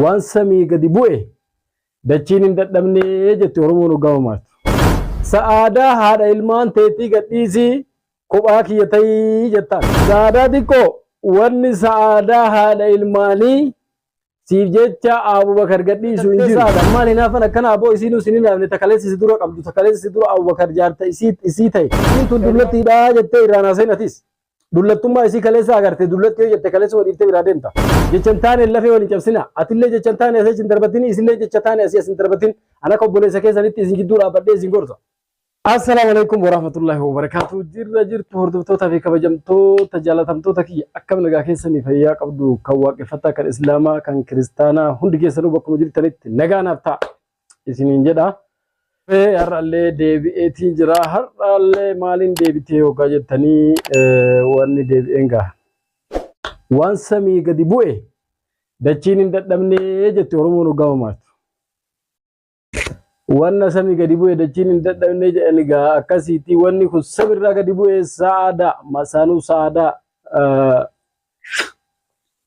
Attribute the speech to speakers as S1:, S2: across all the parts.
S1: Waan samii gadi bu'e dachiin hin dadhabnee jetti Oromoon hoggaa mamaaktu. Sa'aadaa haadha ilmaan teetii gadhiisii kophaa kiyya ta'ii jettaan. Sa'aadaa xiqqoo wanni sa'aadaa haadha ilmaanii siif jecha Abubakar gadhiisu hin jiru. Sa'aadaa maal hinaafan akkana aboo isiinuu sin hinaafne takaleessa si dura qabdu takaleessa si dura Abubakar jaarta isii ta'e. Isiin tun dullattiidhaa jettee irraan haasayin atis. Dullattummaa isii kaleessa agarte dullatti yoo jette kaleessa wadhiifte biraa deemta. Jecha hin taane lafee wal hin cabsina. Atillee jecha hin taane asii achi hin darbatin isillee jecha taane asii as hin darbatin. An akka obboleessa keessanitti isin jidduu dhaabbadhee isin gorsa. Assalaamu alaikum warahmatullahi wabarakaatu jirra jirtu hordoftoota fi kabajamtoota jaalatamtoota kiyya akkam nagaa keessanii fayyaa qabdu kan waaqeffataa kan islaamaa kan kiristaanaa hundi keessanuu bakkuma jirtanitti nagaa naaf ta'a isiniin jedha. Mee har'allee deebi'eetii jira. Har'allee maaliin deebitee hoggaa jettanii wanni deebi'een gaha. Waan samii gadi bu'e dachiin hin dadhabnee jetti Oromoon hoggaa mamaatu. Wanna samii gadi bu'e dachiin hin dadhabnee jedhani gaha akkasiitii wanni kun samiirraa gadi bu'e sa'aadaa masaanuu sa'aadaa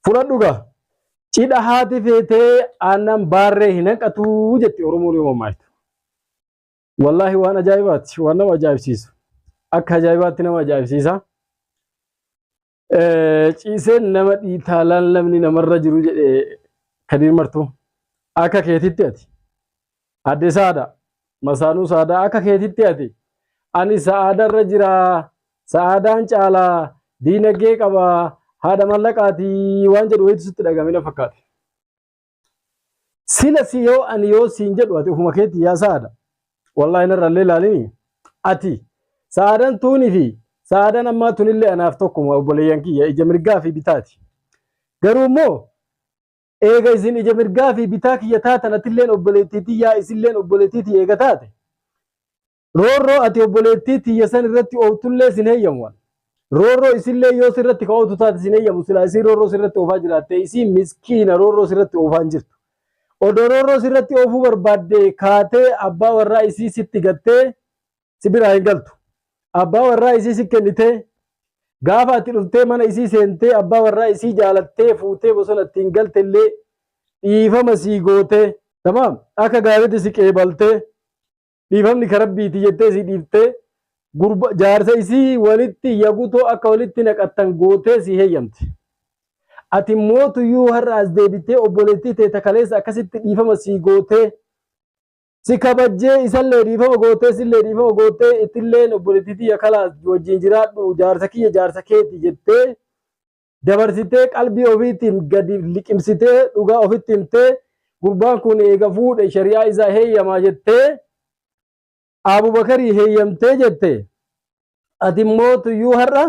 S1: Fudhadhu gaa. Cidha haati feetee aannan baarree hin hanqatu jetti Oromoon yoo mammaaktu. Wallaahi waan ajaa'ibaati. Waan nama ajaa'ibsiisu. Akka ajaa'ibaatti nama ajaa'ibsiisa. Ciiseen nama dhiitaalaan namni namarra jiru jedhe Kadiir Martuu. Akka keetitti ati. Adde Saada, Masaanuu Saadaa akka keetitti ati ani Sa'aada irra jira, Sa'aadaan caala, diinagdee qaba, haadha mallaqaati waan jedhu wayitu sitti dhagahame na fakkaate. Sila si yoo ani yoo siin jedhu ati ofuma keetti yaa Sa'aada. Wallaahi narra illee ilaalini ati Sa'aadaan tuunii fi Sa'aadaan ammaa tunillee anaaf tokkuma obboleeyyan kiyya ija mirgaa fi bitaati. Garuu immoo Eega isin ija mirgaa fi bitaa kiyya taatan atilleen obboleettii tiyyaa isilleen obboleettii tiyya eega taate roorroo ati obboleettii tiyya san irratti oowtullee sin heyyamu an. Roorroo isillee yoo sirratti ka oowtu taate sin heyyamu silaa isiin roorroo sirratti oofaa jiraattee isiin miskiina roorroo sirratti oofaa hin jirtu. Odoo roorroo sirratti oofuu barbaadde kaatee abbaa warraa isii sitti gattee si biraa hin galtu. Abbaa warraa isii si kennitee gaafa ati dhuftee mana isii seentee abbaa warraa isii jaalattee fuutee bosona ittiin galte illee dhiifama sii gootee tamaam akka gaariitti si qeebaltee dhiifamni ka rabbiiti jettee si dhiiftee gurba jaarsa isii walitti yagutoo akka walitti naqattan gootee si heeyyamte. Ati mootuyyuu har'a as deebitee obboleettii tee takaleessa akkasitti dhiifama sii gootee si kabajjee isallee dhiifama goottee sillee dhiifama goottee ittilleen obboleettii tiyya kalaas wajjin jiraadhu jaarsa kiyya jaarsa keeti jettee dabarsitee qalbii ofiitiin gadi liqimsitee dhugaa ofitti himtee gurbaan kun eega fuudhe shari'aa isaa heeyyamaa jettee Abubakarii heeyyamtee jette ati immoo tuyyuu har'a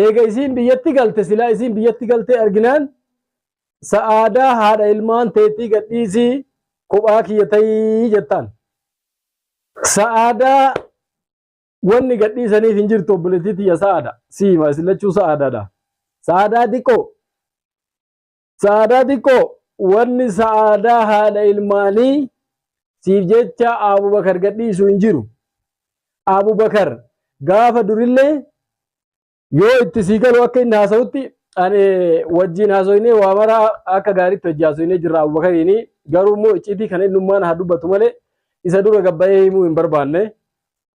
S1: eega isiin biyyatti galte silaa isiin biyyatti galtee arginaan sa'aadaa haadha ilmaan teetii gadhiisii kophaa kiyya ta'ii jettaan. Sa'aadaa wanni gadhiisaniif hin jirtu obboleettii tiyya sa'aada siima isin lachuu sa'aadaadha. Sa'aadaa xiqqoo Sa'aadaa xiqqoo wanni sa'aadaa haadha ilmaanii siif jecha Abubakar gadhiisu hin jiru. Abubakar gaafa durillee yoo itti sii galu akka inni haasa'utti ani wajjin haasoinee waa mara akka gaariitti wajji haasoinee jirra Abubakariin garuu immoo icciitii kana innummaan haa dubbatu malee isa dura gabbayee himuu hin barbaanne.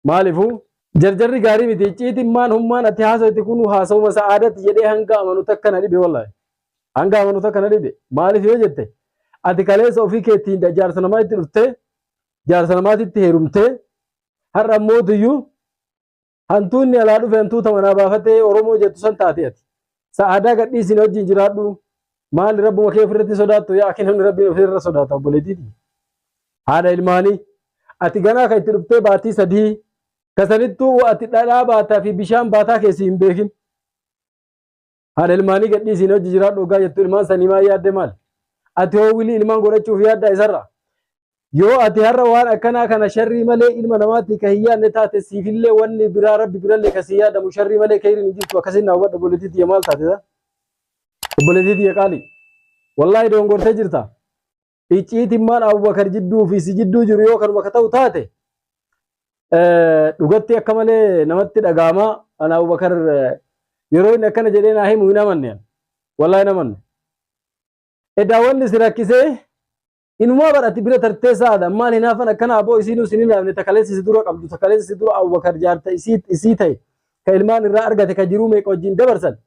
S1: Maalifu jarjarri gaarii miti icciitiin maan hummaan ati haasawti kun haasawuma sa'aadati jedhee hanga amanu takka na dhibe wallahi. Hanga amanu takka na dhibe maaliif yoo jette ati kaleessa ofii keettiin jaarsa namaa itti dhuftee jaarsa namaatitti heerumtee har'a mootiyyuu hantuunni alaa dhufe hantuuta manaa baafatee Oromoo jettu san taate ati. Sa'aadaa gadhiisi na wajjin jiraadhu. Maali rabbuma kee ofirratti sodaattu yaa akii namni rabbiin ofirra sodaata obboleetiiti. Haadha ilmaanii ati ganaa kan itti dhuftee baatii sadii kasanittuu ati dhadhaa baataa fi bishaan baataa keessi hin beekin. Haadha ilmaanii gadhiisi na wajjin jiraadhu ogaa jettu ilmaan sanii maa yaadde maal? Ati hoo wilii ilmaan godhachuuf yaaddaa isarra? Yoo ati har'a waan akkanaa kana sharrii malee ilma namaatti ka hin yaadne taate siifillee wanni biraa rabbi birallee ka sii yaadamu sharrii malee keyriin hin jirtu akkasiin na hubadhu obboleettii tiyya maal taate ta obboleettii tiyya qaalii wallaahi doongortee jirta icciitimmaan abubakar jidduu fi si jidduu jiru yoo kanuma ka ta'u taate dhugatti akka malee namatti dhagaama ana abubakar yeroo inni akkana jedhee naa himu hin amanne wallaahi hin amanne edaa wanni si rakkisee Inumaa bar ati bira tartee saada maal hinaafan akkana aboo isiinuu sin hinaafne ta kaleessa si dura qabdu ta kaleessa si dura Abubakar jaarta isii isii ta'e ka ilmaan irraa argate ka jiruu meeqa wajjin dabarsan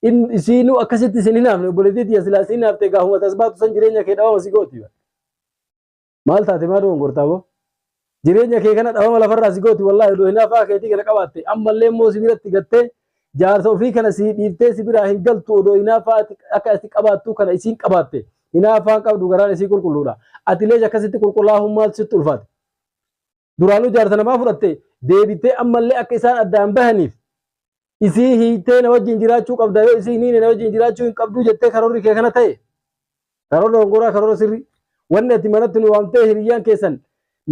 S1: in isiinuu akkasitti sin hinaafne obboleettii tiyya silaa si hinaafte gaahuma tasbaatu san jireenya kee dhabama si gooti bar. Maal taate maa dogongorta aboo? Jireenya kee kana dhabama lafarraa si gooti wallaahi odoo hinaafaa keetii kana qabaatte ammallee immoo si biratti gattee jaarsa ofii kana sii dhiiftee si biraa hin galtu odoo hinaafaa ati akka ati qabaattuu kana isiin qabaatte hinaafaan qabdu garaan isii qulqulluudha atilees akkasitti qulqullaa'uun maaltu sitti ulfaate duraanuu jaarsa namaa fudhatte deebittee ammallee akka isaan addaan bahaniif isii hiitee na wajjin jiraachuu qabda yoo isii hin hiine na wajjin jiraachuu hin qabduu jettee karoorri kee kana ta'e karoora hongoraa karoora sirrii wanni ati manatti nu waamtee hiriyyaan keessan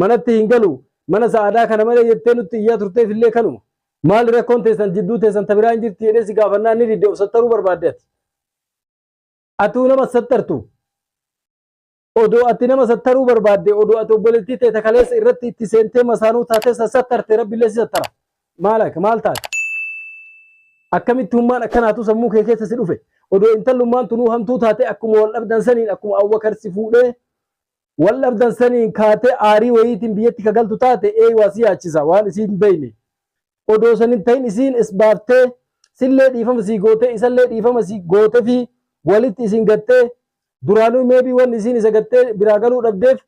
S1: manatti hin galu mana sa'aadaa kana malee jettee nutti iyyaa turteef illee kanuma maal rakkoon teessan jidduu teessan tabiraa hin jirti jedhee si gaafannaa ni didde of sattaruu barbaadde ati atuu nama sattartu Odoo ati nama sattaruu barbaadde, odoo ati obboleettii tee ta kaleessa irratti itti seentee masaanuu taatee san sattarte Rabbillee si sattara. Maalak maal taate? Akkamitti hummaan akkanaatu sammuu kee keessa si dhufe? Odoo intallummaan tunuu hamtuu taatee akkuma wal dhabdan saniin akkuma Abubakar si fuudhee wal dhabdan saniin kaatee aarii wayiitiin biyyatti ka galtu taate eeyumaa si yaachisa waan isii hin beeyne. Odoo san hin tahin isiin is baaftee sillee dhiifama sii gootee isallee dhiifama sii gootefii walitti isin gattee duraanuu maybe wanni isiin isa gattee biraa galuu dhabdeef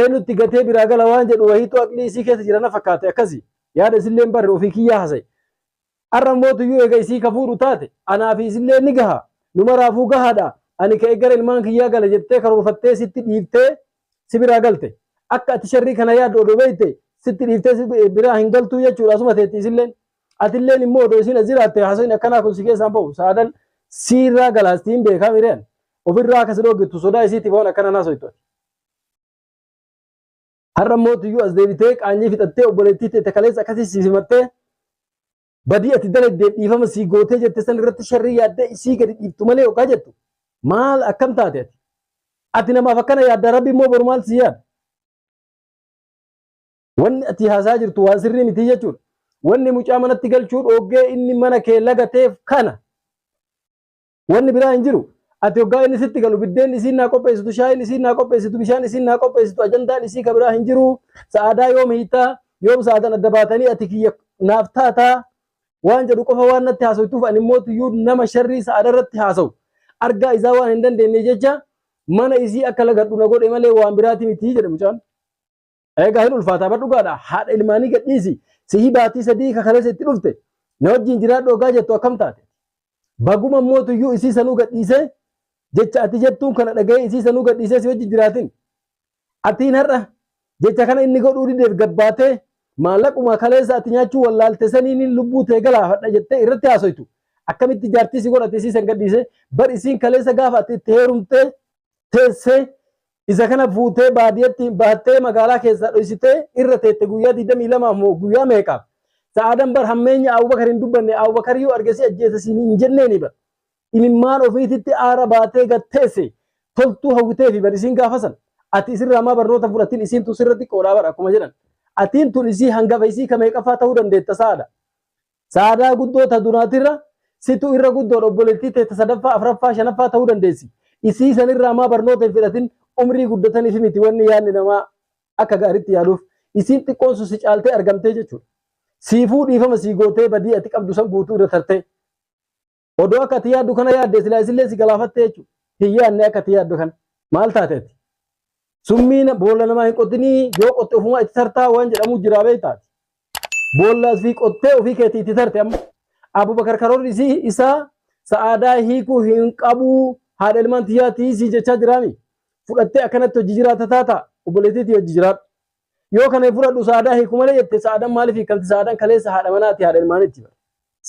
S1: eenutti gatee biraa gala waan jedhu wahiitu aqlii isii keessa jira na fakkaate akkasi yaada isilleen barre ofii kiyyaa hasaye arra mootuyyuu eega isii ka fuudhu taate anaa fi isillee ni gaha numaraafuu gahaadha ani ka eggara ilmaan kiyyaa gala jettee karoorfattee sitti dhiiftee si biraa galte akka ati sharrii kana yaaddu odoo beekte sitti dhiiftee si biraa hin galtuu jechuudha asuma teetti isilleen atilleen immoo odoo isiin as jiraatte haasofni akkanaa kun si keessaan ba'u sa'aadan siirraa galaasti hin beekaa mireen ofirraa akka si dhooggitu sodaa isiitiif waan akkana naasoytu ati. Har'a mootiyyuu as deebitee qaanyii fixattee obboleettii teete kaleessa akkasii si simattee badii ati dalagdeef dhiifama sii gootee jette san irratti sharrii yaaddee isii gadi dhiiftu malee yookaan jettu maal akkam taate ati ati namaaf akkana yaadda rabbi immoo boru maal sii yaada wanni ati haasaa jirtu waan sirrii miti jechuudha wanni mucaa manatti galchuu dhoggee inni mana kee lagateef kana Wanni biraa hin jiru. Ati hoggaa inni sitti galu biddeen isiin naa qopheessitu, shaayiin isiin naa qopheessitu, bishaan isiin naa qopheessitu ajandaan isii ka biraa hin jiru. Sa'aadaa yoom hiitaa? Yoom sa'aadan adda baatanii ati kiyya naaf taataa? Waan jedhu qofa waan natti haasoytuuf ani immoo tuyyuu nama sharrii sa'aada irratti haasawu. Argaa isaa waan hin dandeenye jecha mana isii akka lagadhu na godhe malee waan biraati miti jedhe mucaan. Eegaa hin ulfaataa bar dhugaadha haadha ilmaanii gadhiisi sihii baatii sadii ka kaleessa itti dhufte na wajjin jiraadhu ogaa jettu akkam taate. Baguma mootuyyuu isii sanuu gadhiisee jecha ati jettuun kana dhaga'ee isii sanuu gadhiisee si wajjin jiraatin. Atiin har'a jecha kana inni godhuu dideef gabbaatee maallaquma kaleessa ati nyaachuu wallaalte saniin lubbuu tee galaafadha jettee irratti haasoytu. Akkamitti jaartii si godhate isii san gadhiisee bar isiin kaleessa gaafa ati itti heerumtee teessee Isa kana fuutee baadiyyatti baattee magaalaa keessaa dhoysitee irra teette guyyaa 22 moo guyyaa meeqaaf? Sa'aadan bar hammeenya Abubakar hin dubbanne Abubakar yoo arge si ajjeesa siin hin jenneeni bar. Imimmaan ofiititti aara baatee gad teesse toltuu hawwiteefi bar isiin gaafa san. Ati isirraa maa barnoota fudhatin isiin tun sirra xiqqoodha bar akkuma jedhan. Atiin tun isii hangafa isii ka meeqaffaa ta'uu dandeetta sa'aada. Sa'aadaa guddoo ta duraatirra situ irra guddoodha obboleettii tee ta sadaffaa afraffaa shanaffaa ta'uu dandeessi isii sanirraa maa barnoota hin fidhatin umrii guddataniif miti wanni yaanni namaa akka gaaritti yaaduuf isiin xiqqoon sun si caaltee argamtee jechuudha siifuu dhiifama sii gootee badii ati qabdu san guutuu irra tartee Odoo akka ati yaaddu kana yaadde silaa isillee si galaafatte jechuudha. Hin yaadne akka ati yaaddu kana. Maal taate ati? Summii na- boolla namaa hin qotinii yoo qotte ofumaa itti tartaa waan jedhamu jiraa beektaa ati. Boolla asii qottee ofii keetii itti tarte amma. Abubakar karoorri isii isaa sa'aadaa hiikuu hin qabuu haadha ilmaan tiyyaa tiisii jechaa jiraami. Fudhattee akkanatti hojii jiraata taata obboleettiitii hojii jiraadhu. Yoo kana hin fudhadhu sa'aadaa hiiku malee jette sa'aadan maaliif hiikamti sa'aadan kaleessa haadha manaati haadha ilmaanitti bara.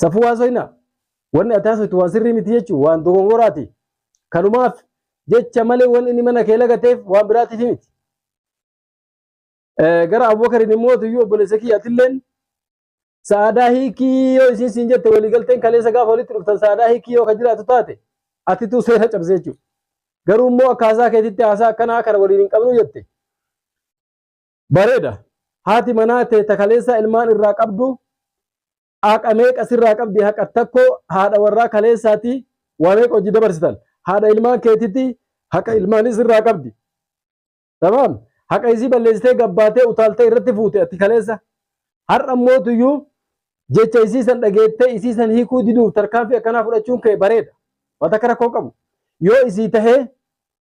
S1: Safuu haasoyna wanni ati haasoytu waan sirrii miti jechuun waan dogongoraati. Kanumaaf jecha malee wanni inni mana kee lagateef waan biraatiif miti. Gara Abubakariin immoo tuyyuu obboleessa kiyya atilleen sa'aadaa hiikii yoo isiin siin jette waliigalteen kaleessa gaafa walitti dhuftan sa'aadaa hiikii yoo ka jiraatu taate atituu seera cabsee jechuudha. Garuu immoo akka haasaa keetitti haasaa akkanaa kana waliin hin qabnu jette. Bareeda. Haati manaa tee ta kaleessaa ilmaan irraa qabdu haqa meeqa sirraa qabdi haqa takko haadha warraa kaleessaati waa meeqa hojii dabarsitan. Haadha ilmaan keetitti haqa ilmaanis irraa qabdi. Tamam. Haqa isii balleessitee gabbaatee utaaltee irratti fuute ati kaleessa. Har'a mootuyyuu jecha isii san dhageettee isii san hiikuu diduuf tarkaanfii akkanaa fudhachuun kee bareeda. Waan takka rakkoo qabu. Yoo isii tahee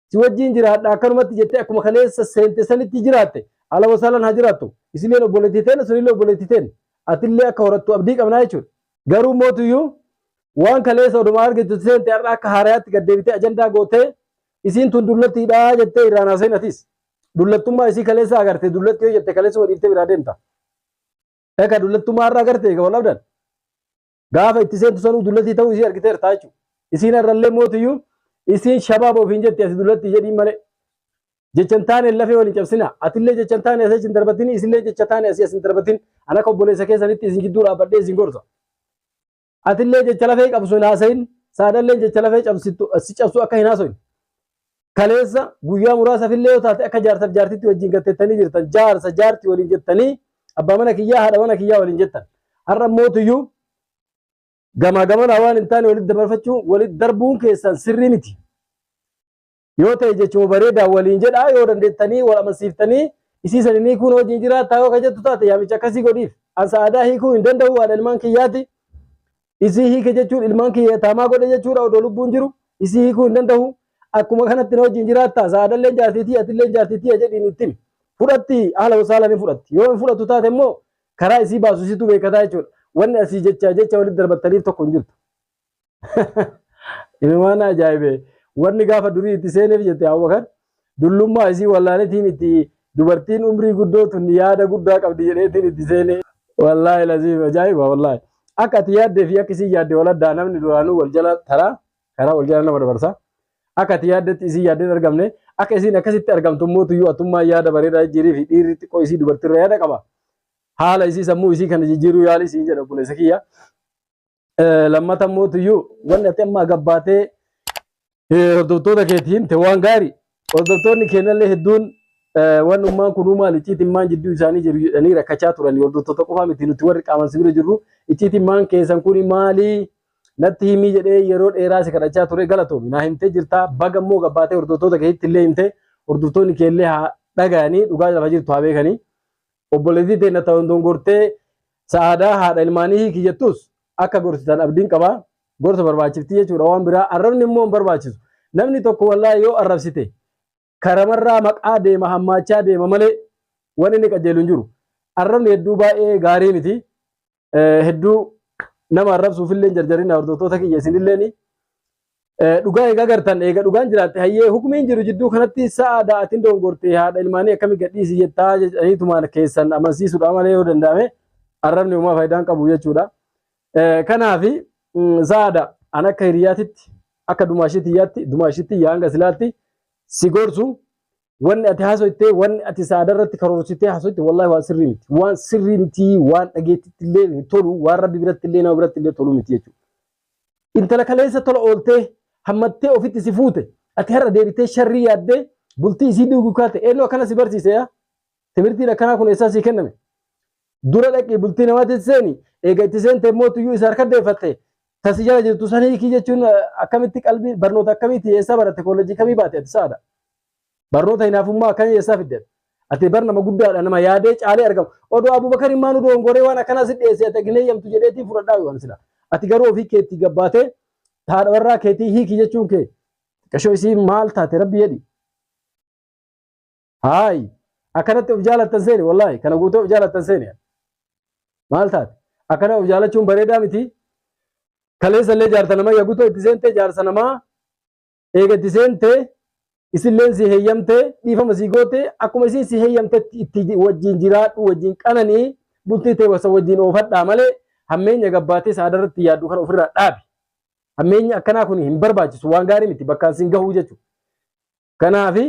S1: si wajjiin jiraadha akkanumatti jettee akkuma kaleessa seente sanitti jiraatte ala wasaalan haa jiraattu. Isilleen obboleettii teena sunillee obboleettii teena. Atillee akka horattu abdii qabnaa jechuudha. Garuu mootuyyuu waan kaleessa odumaa argitu seente har'a akka haarayaatti gad deebitee ajandaa gootee isiin tun dullattiidha jettee irraan haaseen atis dullattummaa isii kaleessa agarte dullatti yoo jette kaleessa waliiftee biraa deemta. Eka dullattummaa irra agarte egaa wal abdan. Gaafa itti seentu sanuu dullattii ta'uu isii argiteerta jechuudha. Isiin irrallee mootiyyuu isiin shabaaba ofiin jetti ati dullattii jedhiin malee. Jechan taane lafee waliin cabsina. Atillee jechan taane asii achi hin darbatin isillee jecha taane asii asin darbatin. Ana akka obboleessa keessanitti isin gidduu dhaabbadhee isin gorsa. Atillee jecha lafee cabsu hin haasayin, saadalleen jecha lafee cabsittu si cabsu akka hin haasoyne. Kaleessa guyyaa muraasafillee yoo taate akka jaarsaf jaartitti wajjin gattettanii jirtan, jaarsa jaarti waliin jettanii abbaa mana kiyyaa haadha mana kiyyaa waliin jettan. Har'a mootuyyuu gamaa gamanaa waan hin taane walitti dabarfachuu walitti darbuun keessan sirrii miti. yoo ta'e jechuma bareedaa waliin jedhaa yoo dandeettanii wal amansiiftanii isii saninii kun hojiin jiraataa yoo ka jettu taate yaamicha akkasii godhiif an sa'aadaa hiikuu hin danda'u haadha ilmaan kiyyaati isii hiike jechuun ilmaan kiyya taamaa godhe jechuudha odoo lubbuun jiru isii hiikuu hin danda'u akkuma kanatti na hojiin jiraataa sa'aadallee jaartiitii atillee jaartiitii jedhiin ittiin fudhatti haala wasaala ni fudhatti yoo hin fudhattu taate immoo karaa isii baasu isitu beekataa jechuudha wanni asii jecha jecha walitti darbattaniif tokko hin jirtu. Inumaan ajaa'ibee wanni gaafa durii itti seeneef jette Abubakar dullummaa isii wallaaletiin itti dubartiin umrii guddoo tun yaada guddaa qabdi jedheetiin itti seene. Wallaahi laziif ajaa'iba wallaahi. Akka ati yaaddee fi akka isin yaadde wal addaa namni duraanuu wal jala taraa karaa wal jala nama dabarsa. Akka ati yaaddetti isin yaaddeen argamne akka isin akkasitti argamtu immoo tuyyuu atummaa yaada bareedaa jijjiirii fi dhiirri xiqqoo isii dubartiirra yaada qaba. Haala isii sammuu isii kana jijjiiruu yaali siin jedha obboleessa kiyya. Lammata immoo tuyyuu wanni ati amma gabbaatee hordoftoota keetii himte waan gaarii hordoftoonni keenyallee hedduun waan ummaan kun uumaan icciitiin maan jidduu isaanii jiru jedhanii rakkachaa turan hordoftoota qofaa miti nuti warri qaaman si bira jirru icciitiin maan keessan kun maalii natti himii jedhee yeroo dheeraa si kadhachaa ture galatoomi naa himtee jirtaa baga immoo gabbaatee hordoftoota keetti illee himte hordoftoonni keellee haa dhagayanii dhugaa lafa jirtu haa beekanii obboleettii teenya ta'uun dongortee sa'aadaa haadha ilmaanii hiiki jettus akka gorsitan abdiin qaba. Gorsa barbaachifti jechuudha waan biraa arrabni immoo hin barbaachisu. Namni tokko wallaa yoo arrabsite karamarraa maqaa deema hammaachaa deema malee waan inni qajeelu hin jiru. Arrabni hedduu baay'ee gaarii miti. hedduu nama arrabsuuf illee jarjarina hordoftoota kiyya isinilleen dhugaa egaa gartan eega dhugaan jiraatte hayyee hukumiin jiru jidduu kanatti sa'a da'atiin dongorte haadha ilmaanii akkami gadhiisi jettaa jedhaniitumaan keessan amansiisuudha malee yoo danda'ame arrabni uumaa faayidaan qabu jechuudha. Kanaaf saada an akka hiriyaatitti akka dumaashii tiyyaatti dumaashitti yaa hanga silaatti si gorsu wanni ati haasoftee wanni ati saada irratti karoorsitee haasoftee wallaahi waan sirrii miti waan sirrii miti waan dhageettitti illee hin tolu waan rabbi biratti illee nama biratti illee tolu miti jechuudha. Intala kaleessa tola ooltee hammattee ofitti si fuute ati har'a deebitee sharrii yaaddee bultii isii diiguu kaate eenyu akkana si barsiise yaa Timirtiin akkanaa kun eessaa sii kenname? Dura dhaqii bultii namaatiin seeni, eega itti seente immoo tuyyuu isa harka deeffatte, ta si jala jirtu san hiikii jechuun akkamitti qalbii barnoota akkamiiti eessaa baratte koolleejjii kamii baate ati sa'aadha? Barnoota hinaafummaa akkamii eessaa fidde ati? Ati bar nama guddaadha nama yaadee caalee argamu. Odoo Abubakariin maa nu doongoree waan akkanaa si dhiyeesse ati hin eeyyamtu jedheetii fudhadhaa waan sila. Ati garuu ofii keetti gabbaatee haadha warraa keetii hiikii jechuun kee xiqqashoo isii maal taate rabbi jedhi. Haayi akkanatti of jaalattan seeni wallaahi kana guutuu of jaalattan seeni. Maal taate akkana of jaalachuun bareedaa miti. Kaleessa illee jaarsa namaa yaguutoo itti seentee jaarsa namaa eega itti seentee isilleen si heeyyamtee dhiifama si gootee akkuma isiin si heeyyamtetti itti wajjin jiraadhu wajjin qananii bultii ta'e wasa wajjin oofadhaa malee hammeenya gabbaatee saada irratti yaaddu kana ofirraa dhaabi. Hammeenyi akkanaa kun hin barbaachisu waan gaarii miti bakkaan siin gahuu jechuudha. Kanaafi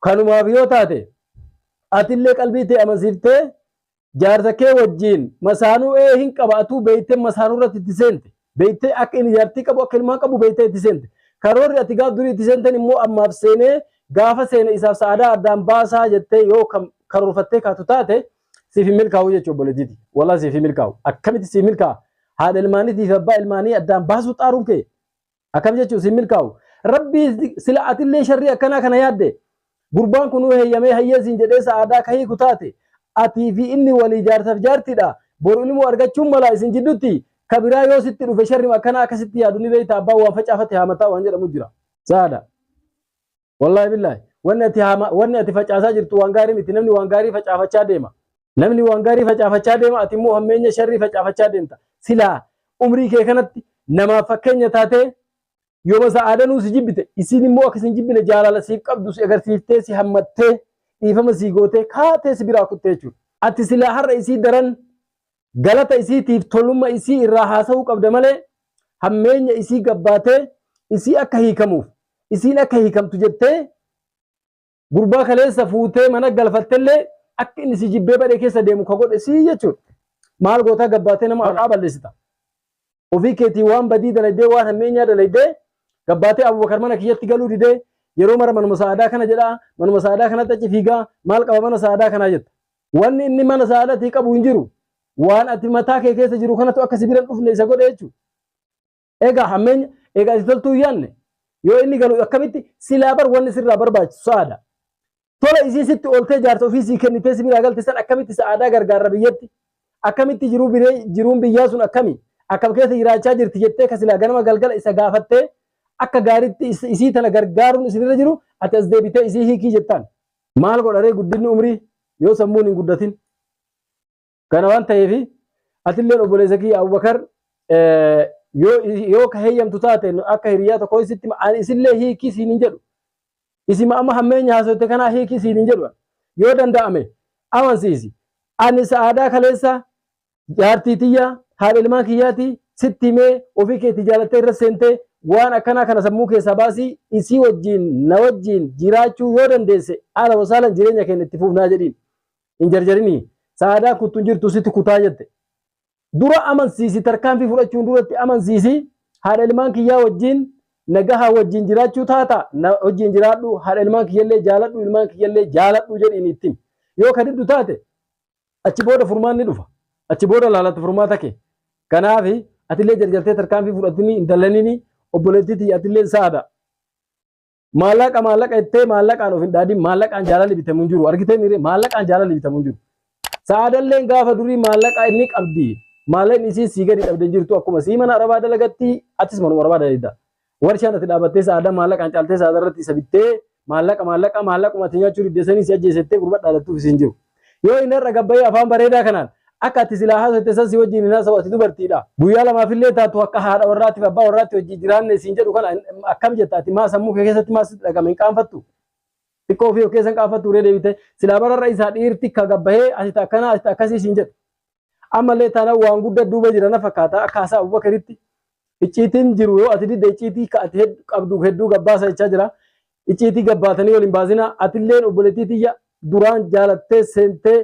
S1: kanumaaf yoo taate atillee qalbii tee amansiiftee jaarsa kee wajjiin masaanuu ee hin qaba atuu beeytee masaanuu irratti itti seente. Beeytee akka inni jaartii qabu akka ilmaan qabu beeytee itti seente. Karoorri ati gaaf durii itti seenteen immoo ammaaf seenee gaafa seene isaaf sa'aadaa addaan baasaa jettee yoo kan karoorfattee kaatu taate siif hin milkaa'u jechuu obboleetiiti. Walaa siif hin milkaa'u. Akkamitti siif milkaa'a? Haadha ilmaaniitii fi abbaa ilmaanii addaan baasuu xaaruun kee akkam jechuun siin milkaa'u rabbii sila atillee sharrii akkanaa kana yaadde gurbaan kun nuu heeyyamee hayyee siin jedhee sa'aadaa ka hiiku taate atii fi inni walii jaarsaaf jaartiidha boru ilmoo argachuun mala isin jiddutti ka biraa yoo sitti dhufe sharrim akkanaa akka sitti yaadu ni beekta abbaan waan facaafate haamataa waan jedhamu jira saada Wallaahi billaahi. Wanni ati haama wanni ati facaasaa jirtu waan gaarii miti. Namni waan gaarii facaafachaa deema. Namni waan gaarii facaafachaa deema ati immoo hammeenya sharrii facaafachaa deemta. Silaa umrii kee kanatti namaaf fakkeenya taatee yooma sa'aadanuu si jibbite isiin immoo akka isin jibbine jaalala siif qabdu si agarsiiftee si hammattee dhiifama sii gootee kaatee si biraa kuttee jechuudha. Ati silaa har'a isii daran galata isiitiif tolumma isii irraa haasa'uu qabda malee hammeenya isii gabbaatee isii akka hiikamuuf isiin akka hiikamtu jettee gurbaa kaleessa fuutee mana galfattellee akka inni si jibbee badhee keessa deemu ka godhe sii jechuudha. Maal gootaa gabbaatee nama maqaa balleessita. ofii keetii waan badii dalaydee waan hammeenyaa dalaydee gabbaatee abubakar mana kiyyatti galuu didee yeroo mara manuma sa'aadaa kana jedhaa manuma sa'aadaa kanatti achi fiigaa maal qaba mana sa'aadaa kanaa jetta wanni inni mana sa'aadatii qabu hin jiru waan ati mataa kee keessa jiru kanatu akka sibiran dhufne isa godhe jechuudha. Egaa hammeenya egaa ati toltuu yaanne yoo inni galu akkamitti silaa bar wanni sirraa barbaachisu sa'aada. Tola isii sitti ooltee jaarsa ofii sii kennitee si biraa galte san akkamitti sa'aadaa gargaarra biyyatti? Akkamitti jiruu biree jiruun biyyaa sun akkami? Akkam keessa jiraachaa jirti jettee ka silaa ganama galgala isa gaafattee akka gaaritti is- isii tana gargaaruun isinirra jiru ati as deebitee isii hiikii jettaan. Maal godharee guddinni umrii yoo sammuun hin guddatin? Kana waan ta'eef atilleen obboleessa kiyya Abubakar eh, yoo yoo ka heeyyamtu taate nu akka hiriyaa tokko sitti hima. ani isillee hiikii siin hin jedhu. Isima amma hammeenya haasotte kanaa hiikii siin hin jedhu. Yoo danda'ame amansiisi. Ani sa'aadaa kaleessa jaartii tiyya haadha ilmaan kiyyaati sitti himee ofii keetti jaalattee irra seentee waan akkanaa kana sammuu keessaa baasii isii wajjin na wajjin jiraachuu yoo dandeesse haala wasaalan jireenya keenya itti fuufnaa jedhiin. hin jarjarinii sa'aadaa kuttu hin jirtu sitti kutaa jette dura amansiisi tarkaanfii fudhachuun duratti amansiisi haadha ilmaan kiyyaa wajjiin nagahaa wajjiin jiraachuu taata na wajjiin jiraadhu haadha ilmaan kiyyallee jaaladhu ilmaan kiyyallee jaaladhu jedhiin ittiin yoo ka diddu taate achi booda furmaanni dhufa achi booda laalatti furmaata kee kanaaf atillee jarjartee tarkaanfii fudhatini hin dallanini obboleettii tiyya atillee sa'aada Maallaqa maallaqa jettee maallaqaan of hin dhaadin maallaqaan jaalalli bitamu hin jiru argitee miire maallaqaan jaalalli bitamu hin jiru. Sa'aadalleen gaafa durii maallaqaa inni qabdi maallaqni isiin sii gadi dhabde hin jirtu akkuma sii mana arabaa dalagatti atis manuma arabaa dalagda. Warshaan ati dhaabattee sa'aadaa maallaqaan caaltee sa'aadaa irratti isa bittee maallaqa maallaqa maallaquma ati nyaachuu diddeessanii si ajjeesettee gurbaa dhaadattuuf isiin jiru. Yoo inni har'a gad bahee afaan bareedaa kanaan akka ati silaa haasofte san si wajjiin hin haasawu ati dubartiidha. Guyyaa lamaaf illee taatu akka haadha warraatiif abbaa warraatti wajjii jiraanne siin jedhu kana akkam jetta ati maa sammuu kee keessatti maa sitti dhagahame hin qaanfattu? Xiqqoo ofii of keessa hin qaanfattu ree deebitee? Silaa bara har'a isaa dhiirti ka gad bahee ati ta akkanaa ati ta akkasii siin jedhu. Ammallee taanaan waan guddaa duuba jira na fakkaata akka haasaa Abubakaritti. Icciitiin jiru yoo ati didde icciitii ka ati hed- qabdu hedduu gabbaasa jechaa jira. Icciitii gabbaatanii wal hin baasinaa. Atilleen obboleettii tiyya duraan jaalattee seentee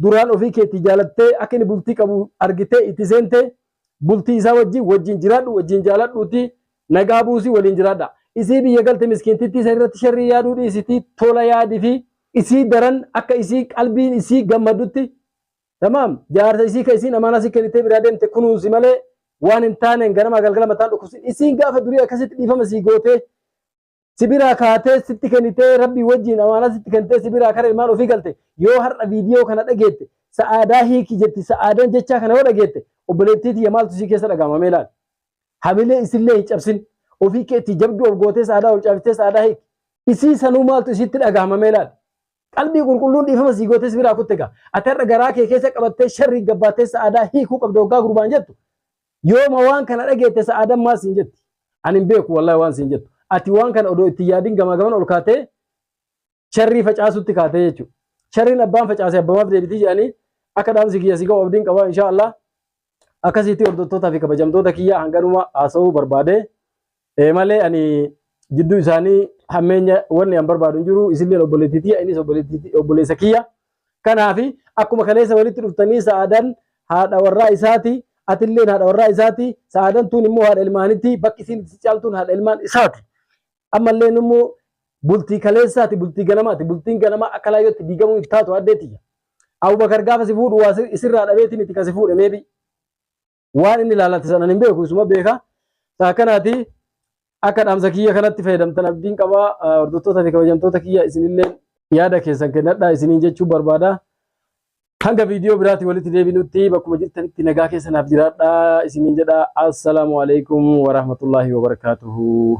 S1: duraan ofii keetii jaalattee akka inni bultii qabu argitee itti seentee bultii isaa wajjin wajjin jiraadhu wajjin jaaladhuutii nagaa buusii waliin jiraadha. Isii biyya galte miskiintittii san irratti sharrii yaaduu dhiisitii tola yaadifii. Isii daran akka isii qalbiin isii gammaddutti Tamaam jaarsa isii ka isiin amaanaa si kennitee biraa deemte kunuunsi malee waan hin taaneen ganamaa galgala mataan dhukkubsin. Isiin gaafa durii akkasitti dhiifama sii gootee si biraa kaatee sitti kennitee rabbii wajjiin amaanaa sitti kennitee si biraa kara ilmaan ofii galte yoo har'a viidiyoo kana dhageette sa'aadaa hiiki jetti sa'aadan jechaa kana yoo dhageette obboleettii tiyya maaltu isii keessa dhaga'ama mee laal. Hamilee isillee hin cabsin ofii keetti jabduu of gootee sa'aadaa ol caabistee sa'aadaa hiiki isii sanuu maaltu isiitti dhaga'ama mee laal. Qalbii qulqulluun dhiifama sii gootee si biraa kutte gaa. Ati har'a garaa kee keessa qabattee sharrii gabbaattee sa'aadaa hiikuu qabda hoggaa gurbaan jettu. Yooma waan kana dhageette sa'aadan maal siin jetti? Ani hin beeku wallahi waan siin jettu. Ati waan kana odoo itti yaadin gamaa gaman ol kaatee sharrii facaasutti kaatee jechuudha. Sharriin abbaan facaase abbamaaf deebitii jedhanii akka dhaamsi kiyya si ga'u abdiin qabaa inshaa Allah. akkasitti hordottootaa fi kabajamtoota kiyyaa hanganuma haasa'uu barbaade Eh, malee ani jidduu isaanii hammeenya wanni an barbaadu hin jiru isilleen obboleettii tiyya innis obboleettii- obboleessa kiyya kanaaf akkuma kaleessa walitti dhuftanii sa'aadan haadha warraa isaati atilleen haadha warraa isaati sa'aadan tun immoo haadha ilmaanitti bakki isiin itti caaltuun haadha ilmaan isaati ammalleen immoo bultii kaleessaati bultii ganamaati bultiin ganamaa akka laayyootti diigamuu hin taatu addee tiyya. Abubakar gaafa si fuudhu waa isirraa dhabeeti miti kan si fuudhe meebi. Waan inni laalate sanan hin beeku isuma beeka. Saa kanaati akka dhaamsa kiyya kanatti fayyadamtan abdiin qabaa hordoftoota fi kabajamtoota kiyya isinillee yaada keessan kennadhaa isiniin jechuu barbaada. Hanga viidiyoo biraatti walitti deebinutti bakkuma jirtanitti nagaa keessanaaf jiraadhaa isiniin jedha. Assalaamu alaikum warahmatullaahi wabarakaatuhu.